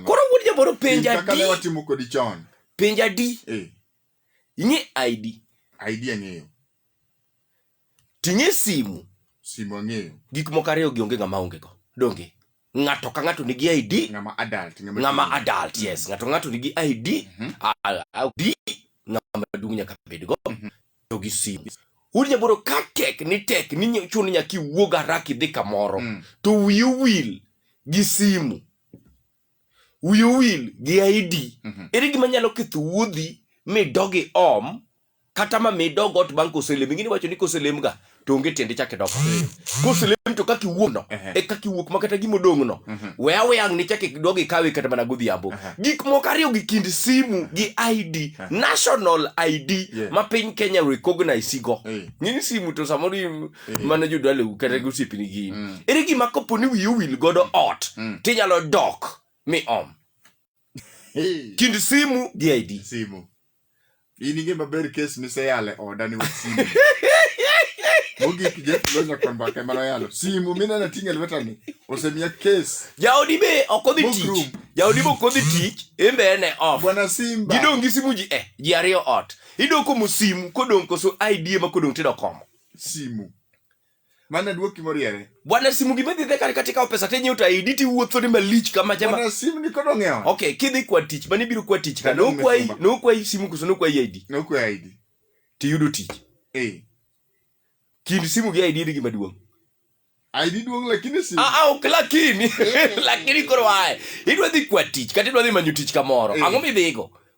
koro wuod jaboro penja di penja di eh. ing'e id id ang'eyo ting'e simu simu ang'eyo gik moko ariyo gi onge ng'ama onge go donge ng'ato ka ng'ato nigi id ng'ama adult ng'ama adult yes ng'ato ng'ato nigi id mhm. id ng'ama duong' nyaka bed go mhm. to gi sim udi jaburo ka tek ni tek ni ny- chuno nyaka iwuog haraka idhi kamoro Mm. to wiyi owil gi simu wiyi owil gi ID Mhm. ere gima nyalo ketho wuodhi midogi om kata ma midog ot bang' koselem ingini wacho ni koselemga to onge tiende chak idok piny koselem to kaka iwuokno e kaka iwuok ma kata gima odong'no mhm. we aweyang' ni chak idog ikawe kata mana godhiambo gik moko ariyo gi kind simu gi id national id ma piny kenya recognize go ng'ini simu to samoro mana jodwaleu kata gosiepni gin mm. ere gima kopo ni wiyi owil godo ot mm. tinyalo dok mi om kind simu gi id simu in inge maber kes miseyale oda ni wach simu mogik jeff lonya kod mbaka emane oyalo simu mineno ting' e lwetani osemiya kes jaodi be ok odhi Book tich room. jaodi be ok odhi tich embe en e off bwana simba gidong' gi simu ji eh ji ariyo ot idong' komo simu kodong' koso id ema kodong' tido komo simu Maana duoki moriere. Bwana simu gima dhi dhekari katika pesa tenye uta idi ti wuotho ni malich kama jema. Bwana simu ni kodo ngewa. Okay, kidhi kwa tich, mani biro kwa tich ka. No kwa i, no kwa i simu kuso no kwa i ID. No kwa ID. Ti yudo tich. Eh. Kind simu gi ID ni gima duong'. ID duong' lakini simu. Ah, ah, ok lakini. Eh. lakini koro wae. Idwa dhi kwa tich, kata idwa dhi manyo tich kamoro. Eh. Ang'o midhigo?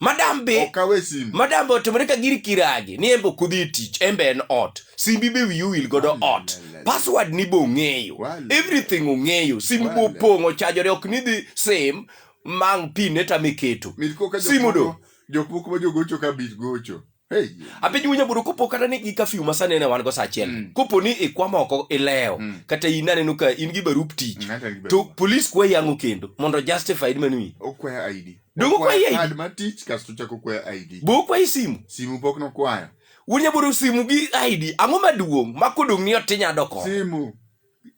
madam be okawe simbi madam be otimore ka gir kiragi ni embe ok odhi e tich embe en ot simbi be wiyi owil godo ot password ni be ong'eyo everything ong'eyo simbi be opong' ochajore ok ni dhi sim mang pin ne tame keto simu do jok moko ma jogocho ka bit gocho Hey. apiny winyo buru kopo kata ni gi kafiu ma sani ne wan go sa achiel Mm. kopo ni ikwamo oko ilewo Mm. kata in aneno ka in gi barup tich Ng'ato gi to barup. police kwa yango kendo mondo justified manwi Okwaya ID. Donge okwaya ID? Card mar tich kasto chako okwaya ID. bo kwa isimu Simu pok nokwayo. wunya buru simu gi id ang'o maduong' ma kodong' ni otinya doko Simu.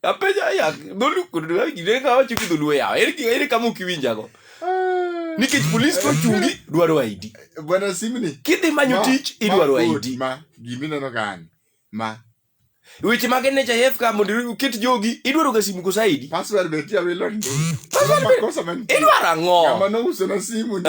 apenja ya dholu kudu gine ka wacho ki dholu ya eri eri kama ukiwinja go nikech polis ko chungi dwaro ID bwana simni kidhi manyo tich idwaro ID ma gimi neno kan ma weche mag NHIF ka mondo uket jogi idwaro ga simu kosa ID password be tia wilo password be kosa man idwaro ang'o kama no uso na simu ni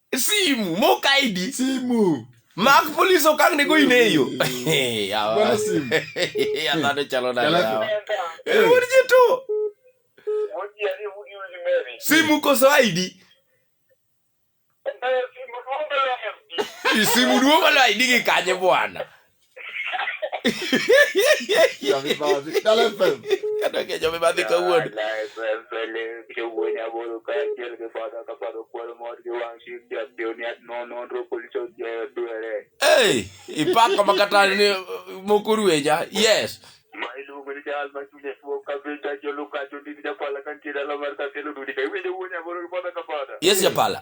simu mokaidi simu mak polis okang ne go in eyo Bwana simu. adhano chalo nade Kalaku. yawa? Eh, wuod ji to simu koso id I simu duogo lo id gi kanye bwana Jami Badi, dale fe. Kata ke jami badi ka wuod. Hey, ipako makata ni mokurueja. Yes. Yes, Japala.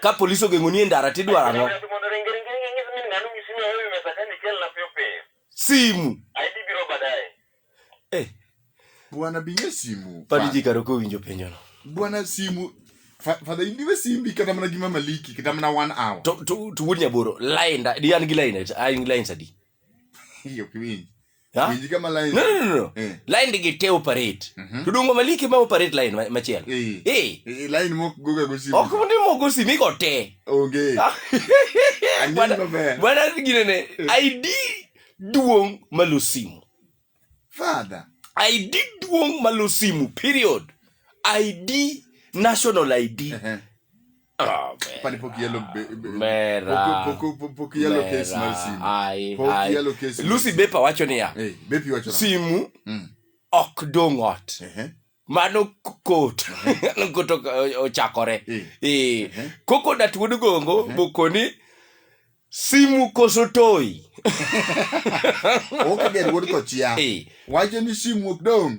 ka polis ogeng'oni e ndara tidwaro ang'o simu eh. bwana binge simu padi ji karo kowinjo penjono bwana simu fadha indiwe simbi kata mana gima maliki kata mana one hour to to to wuod nyaboro line di an gi line an gi line sadi hiyo kiwinji Ha? Penji kama line. No, no, no, no. Eh. Line digi te operate. Mhm. To dongo maliki ma operate line ma- machielo. Eh. Eh. Eh, line mok goga go simu. Ok mundi mogo simi go te. Onge. Ah. Andi Bwana- maber. Bwana gine ne ID duong malo simu. Father. ID duong malo simu period. ID national ID. Ehe. Oh, panipo kielo mera poko poko poko yellow case mar simu ai poko ai yellow case Lucy Bepa wacho niya eh bepi wacho simu mm. ok dong ot ehe mano kot no kot o- ochakore Eh. eh koko dat wuod gongo bokoni simu koso toyi ok ger wuod kochia Eh. wacho ni simu ok dong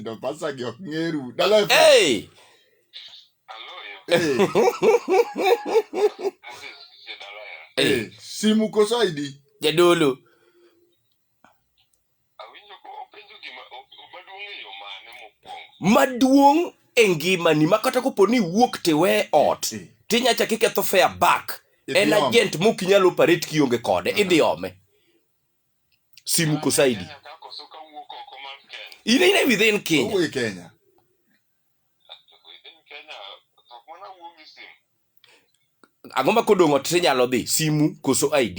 Ndo pasa gi ok ngeru. Dala FM. Hey! Eh, Hey! eh, simu koso ID. Jadolo. Maduong' e ngimani ma kata kopo ni iwuok tiwe ot Eh. tinyacha kiketho fair back Idhi en ome. agent mok inyal operate kionge kode idhi ome simu kusaidi ine ine within Kenya Uwe Kenya. ang'o ma kodong' ot tinyalo dhi simu koso ID